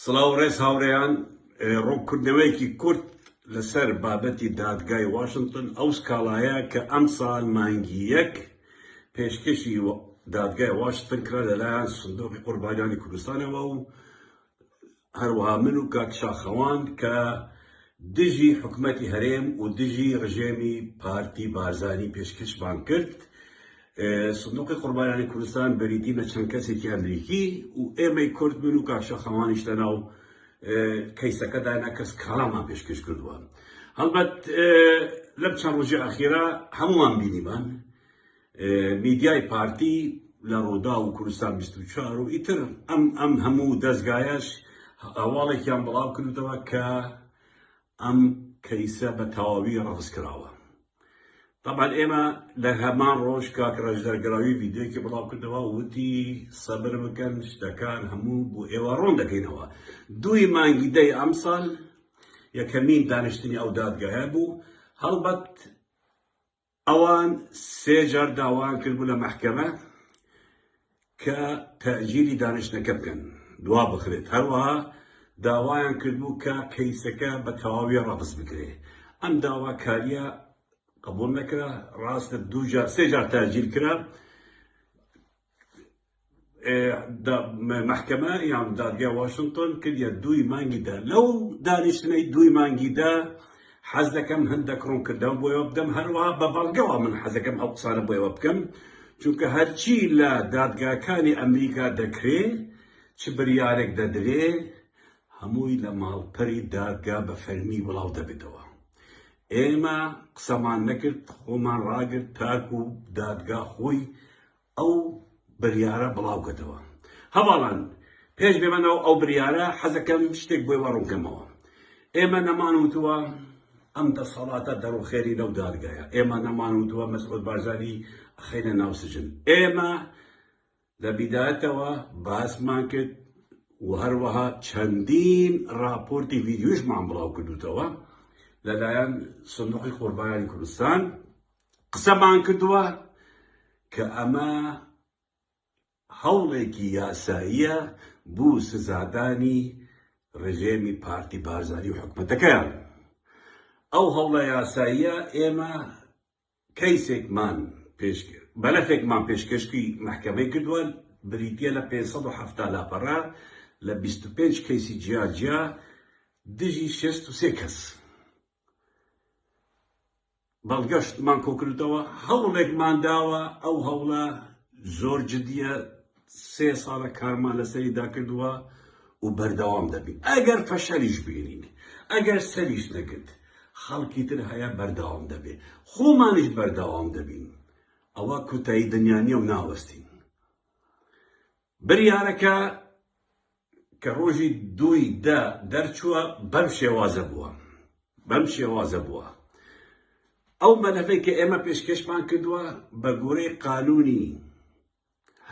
سڵاو ڕێز هاوڕێیان ڕوونکردنەوەیەکی کورت لەسەر بابەتی دادگای واشنتن ئەو سکاڵایە کە ئەمساڵ مانگی یەک پێشکەشی دادگای واشنتن کرا لەلایەن سندۆقی قوربانیانی کوردستانەوە و هەروەها من و کاک شاخەوان کە دژی حکومەتی هەرێم و دژی ڕژێمی پارتی بارزانی پێشکەشمان کرد سندوقی قوربانیانی کوردستان بریتی لە چەند کەسێکی ئەمریکی و ئێمەی کورد من و کاک شاخەوانیش لەناو کەیسەکەدا نە کەس کاڵامان پێشکەش کردووە هەڵبەت لەم چەند ڕۆژی ئاخیرا هەمووان بینیمان میدیای پارتی لە ڕوودا و کوردستان 24 و ئیتر ئەم ئەم هەموو دەستگایش هەواڵێکیان بڵاو کردەوە کە ئەم کەیسە بە تەواوی ڕەفز کراوە تەبعەن ئێمە لە هەمان ڕۆژ کاک ڕەش دەرگراوی ڤیدیۆیەکی بڵاو کردەوە وتی سەبر بکەن شتەکان هەموو بۆ ئێوە ڕوون دەکەینەوە دووی مانگی دەی ئەمساڵ یەکەمین دانیشتنی ئەو دادگایە بوو هەڵبەت ئەوان سێ جار داوایان کردبوو لە مەحکەمە کە تەئجیلی دانیشتنەکە بکەن دوابخرێت، هەروەها داوایان کردبوو کە کەیسەکە بە تەواوی ڕەفز بکرێت، ئەم داواکارییە قبوڵ نەکرا، ڕاستە دوو جار سێ جار تەئجیل کرا، مەحکەمە یان دادگای واشنتۆن کردیە دووی مانگی دە، لەو دانیشتنەی دووی مانگی دە حەز دەکەم هەندەک ڕونکردەو بۆیەوە بدەم هەروەها بە بەڵگەوە من حەزەکەم ئەو قسانە بۆیەوە بکەم چونکە هەرچی لە دادگاکانی ئەمریکا دەکرێ چ بریارێک دەدرێ هەمووی لە ماڵپەری دادگا بە فەرمی بڵاو دەبێتەوە ئێمە قسەمان نەکرد خۆمان ڕاگرت تاکو دادگا خۆی ئەو بریارە بڵاو کەتەوە هەڤاڵان. پێش بێمە ناو ئەو بریارە حەزەکەم شتێک بۆی وا ڕوون کەمەوە. ئێمە نەمان وتووە ئەم دەسەڵاتە دەڕوخێنی نەو دادگایە. ئێمە نەمان وتووە مەسعود بارزانی ئەخەینە ناو سجن. ئێمە لە بیدایەتەوە باسمان کرد و هەروەها چەندین ڕاپۆرتی ڤیدیۆیشمان بڵاو کردووتەوە لەلایەن سندوقی قوربانیانی کوردستان قسەمان کردووە کە ئەمە هەوڵێکی یاساییە بۆ سزادانی ڕژێمی پارتی بارزانی و حکومەتەکەیان ئەو هەوڵە یاساییە ئێمە کەیسێکمان پێش بەلەفێکمان پێشکەشتی محکەمەی کردووە بریتە لە 570 لاپەڕە لە 25 کەیسی جیاجیا دژی 63 کەس بەڵگەشتمان کۆکردەوە هەوڵێکمان داوە ئەو هەوڵە زۆر جدیە سێ ساڵە کارمان لەسەری داکردووە و بەردەوام دەبین ئەگەر فەشەلیش بینین ئەگەر سەریش نەگرت خەڵکی تر هەیە بەردەوام دەبێ خۆمانش بەردەوام دەبین ئەوە کوتایی دنیاە و ناوەستین بریارەکە کە رۆژی دووی دە دەرچووە بەم شێوازە بووە بەم شێوازە بووە ئەو مەلەفەی کە ئێمە پێشکەشمان کردووە بە گۆرەی قانونی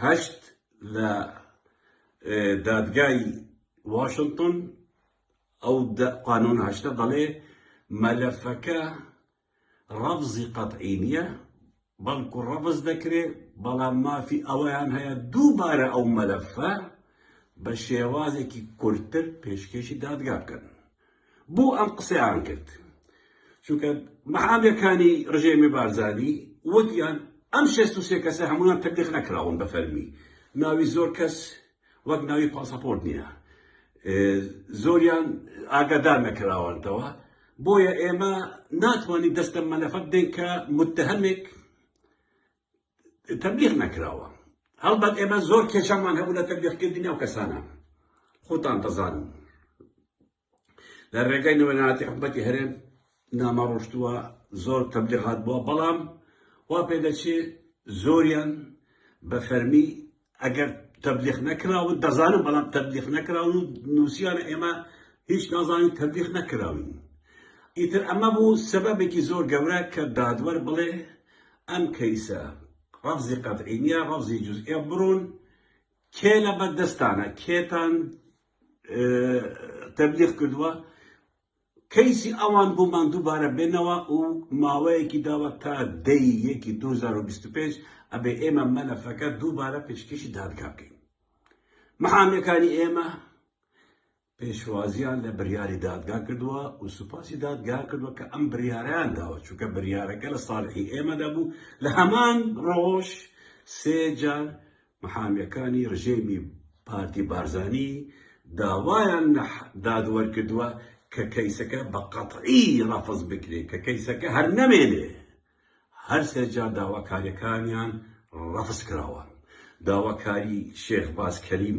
هەشت لە دادگای واشنگتن ئەو قانون هەشتە دەڵێ مەلەفەکە ڕەفزی قەتعی نیە بەڵکو ڕەفز دەکرێ بەڵام مافی ئەوەیان هەیە دووبارە ئەو مەلەفە بە شێوازێکی کورتتر پێشکێشی دادگا بکەن بۆ ئەم قسەیان کرد چونکە مەحامەکانی ڕژێمی بارزانی وەگیان ئەم شێست و سێ کەسە هەمویان تەبلیغ نەکراون بە فەرمی ناوی زۆر کەس وەک ناوی پاسەپۆرت نییە زۆریان ئاگادار نەکراوانتەوە بۆیە ئێمە ناتوانین دەستە مەلەفەت دێن کە متهمێک تەبلیغ نەکراوە هەڵبەت ئێمە زۆر کێشەمان هەبوو لە تەبلیغکردنی ئەو کەسانە خۆتان دەزانن لە ڕێگەی نوێنەتی حکومەتی هەرێم نامە ڕۆشتووە زۆر تەبلیغات بووە بەڵام وا پێ دەچێ زۆریان بە فەرمی ئەگەر تەبلیغ نەکراون دەزانم بەڵام تەبلیغ نەکراون و نووسیانە ئێمە هیچ نازانین تەبلیغ نەکراون ئیتر ئەمە بوو سەبەبێکی زۆر گەورە کە دادوەر بڵێ ئەم کەیسە ڕەفزی قەتعینە ڕەفزی جزئە بڕون کێ لە بەردەستانە کێتان تەبلیغ کردووە کەیسی ئەوان بۆمان دووبارە بێنەوە و ماوەیەکی داوە تا دەی یەکی 2025 ئەبێ ئێمە مەلەفەکە دووبارە پێشکەشی دادگا بکەین محامەکانی ئێمە پێشوازیان لە بریاری دادگا کردووە و سوپاسی دادگا کردووە کە ئەم بریاریان داوە چونکە بریارەکە لە ساڵحی ئێمە دەبوو لە هەمان ڕۆژ سێجار محامیەکانی رژێمی پارتی بارزانی داوایان لە دادوەر کردوە کە کەیسەکە بە قەتعی رەفز بکرێت کە کەیسەکە هەر نەمێنێ هەر سێ جار داواکاریەکانیان رەفز کراوە داواکاری شێخ باز کەریم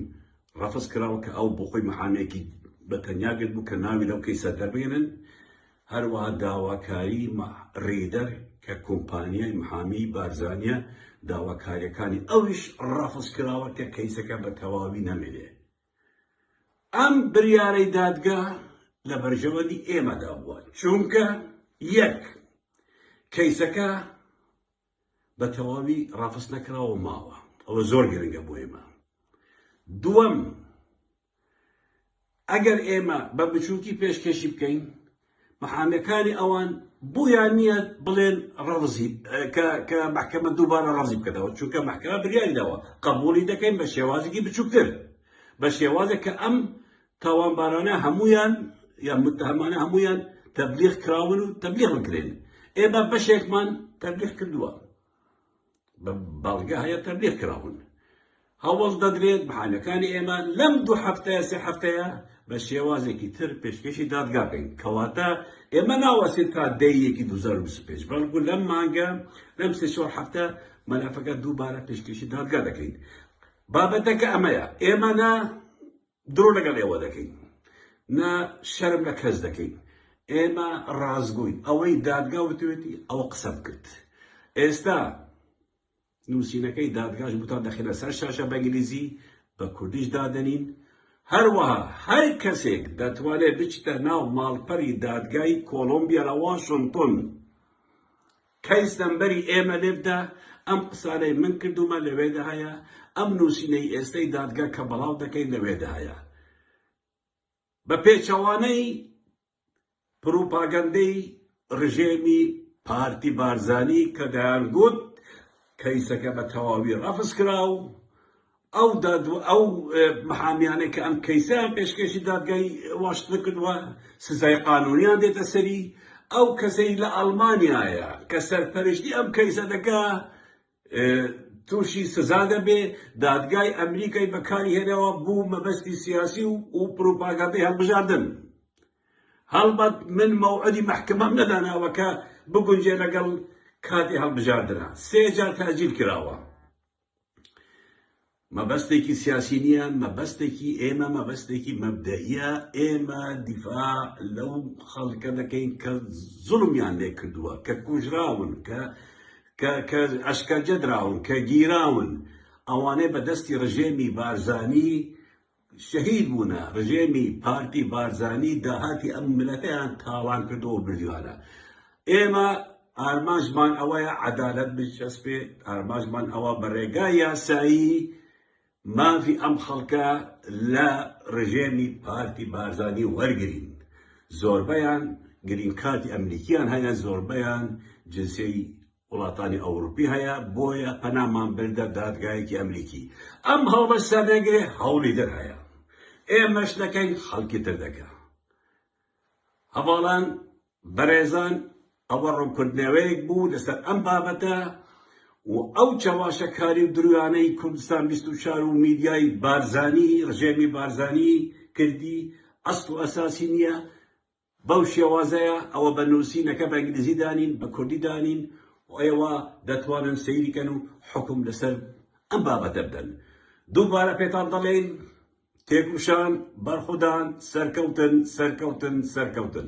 رەفز کراوە کە ئەو بۆ خۆی محامێکی بە تەنیا گرتبوو کە ناوی لەو کەیسە دەربێنن هەروەها داواکاری ریدەر کە کۆمپانیای محامیی بارزانییە، داواکارییەکانی ئەویش رافزکراوە کە کەیسەکە بە تەواوی نەمێنێ. ئەم بریارەی دادگا لە بەرژەوەندی ئێمەدا بووە، چونکە، یەک، کەیسەکە بە تەواوی رافزنەکراوە و ماوە، ئەوە زۆر گرنگە بۆ ئێمە. دووەم، ئەگەر ئێمە بە بچووکی پێشکەشی بکەین محامەکانی ئەوان بۆیان نییە بڵێن ڕەزی کە محکەمە دووبارە ڕازی بکەنەوە چونکە محکەمە بریاری داوە قبولی دەکەین بە شێوازێکی بچووکتر بە شێوازێک کە ئەم تاوانبارانە هەمویان یا متهمانە هەمویان تەبلیغ کراون و تەبلیغ بکرێن ئێمە بەشێکمان تەبلیغ کردووە بەڵگە هەیە تەبلیغ کراون هەوڵ دەدرێت بەحانەکانی ئێمە لەم دوو هەفتەیە سێ هەفتەیە بە شێوازێکی تر پێشکەشی دادگا بین کەواتە ئێمە ناوەسێت تا دەیەکی 2025 بەڵکو لەم مانگە لەم سێ چۆر هەفتە مەلەفەکە دووبارە پێشکەشی دادگا دەکەین بابەتەکە ئەمەیە ئێمە نە درۆ لەگەڵ ئێوە دەکەین نە شەرم لە کەس دەکەین ئێمە ڕازگۆین ئەوەی دادگا وتوێتی ئەوە قسەم کرد ئێستا نووسینەکەی دادگاش بوتان دەخێنە سەر شاشە بەنگلیزی بە کوردیش دادەنین هەروەها هەر کەسێک دەتوانێت بچتە ناو ماڵپەری دادگای کۆلمبیا لە واشنگتن کەیس نەمبەری ئێمە لێ بدە، ئەم قسانەی من کردوومە لەوێدا هەیە، ئەم نووسینەی ئێستەی دادگە کە بڵاو دەکەین لەوێدا هەیە. بە پێچەوانەی پروپاگەندەی رژێمی پارتی بارزانی کە دەیانگوت کەیسەکە بە تەواوی رەفزکرا و ئەو دادوە ئەو محامیانەی کە ئەم کەیسەیان پێشکێشی دادگای واشنتن کردووە سزای قانونیان دێتە سەری ئەو کەسەی لە ئەڵمانیایە کە سەرپەرشتی ئەم کەیسە دەکا تووشی سزا دەبێ دادگای ئەمریکای بەکاری هێنەوە بوو مەبەستی سیاسی و و پروپاگاندی هەڵبژاردن هەڵبەت من مەوعدی محکمەم نەداناوەکە بگونجێ لەگەڵ کاتی هەڵبژاردنە سێ جار تاجیل کراوە مەبەستێکی سیاسی نییە مەبەستێکی ئێمە مەبەستێکی مەبدەئیە ئێمە دیفاع لەو خەڵکە دەکەین کە زڵمیان لێ کردووە کە کوژراون کە کە ئەشکەجە دراون کە گیراون ئەوانەی بەدەستی ڕژێمی بارزانی شەهید بوونە، ڕژێمی پارتی بارزانی داهاتی ئەم میلەتەیان تاڵان کردووە و بردیوانە. ئێمە ئارمانجمان ئەوەیە عەدالەت بچەسپێت، ئارمانجمان ئەوە بە ڕێگای یاسایی مافی ئەم خەڵکە لە ڕژێمی پارتی بارزانی وەرگرین. زۆربەیان گرین کارتی ئەمریکیان هەیە، زۆربەیان جنسیەتی وڵاتانی ئەوڕوپی هەیە بۆیە پەنامان بردە دادگایەکی ئەمریکی ئەم هەڵمەش سەردەگرێ هەوڵی در هەیە ئێمەش دەکەین خەڵکی تر دەکە هەواڵان بەڕێزان ئەوە ڕوونکردنەوەیەک بوو لەسەر ئەم بابەتە و ئەو چەواشەکاری و درویانەی کوردستان 24 و میدیای بارزانی ڕژێمی بارزانی کردی ئەست و ئەساسی نییە بەو شێوازەیە ئەوە بە نووسینەکە بە ئینگلیزی دانین، بە کوردی دانین و ئێوە دەتوانن سەیری کەن و حوکم لەسەر ئەم بابەتە بدەن. دووبارە پێتان دەڵێین، تێکوشان، بەرخودان، سەرکەوتن، سەرکەوتن، سەرکەوتن.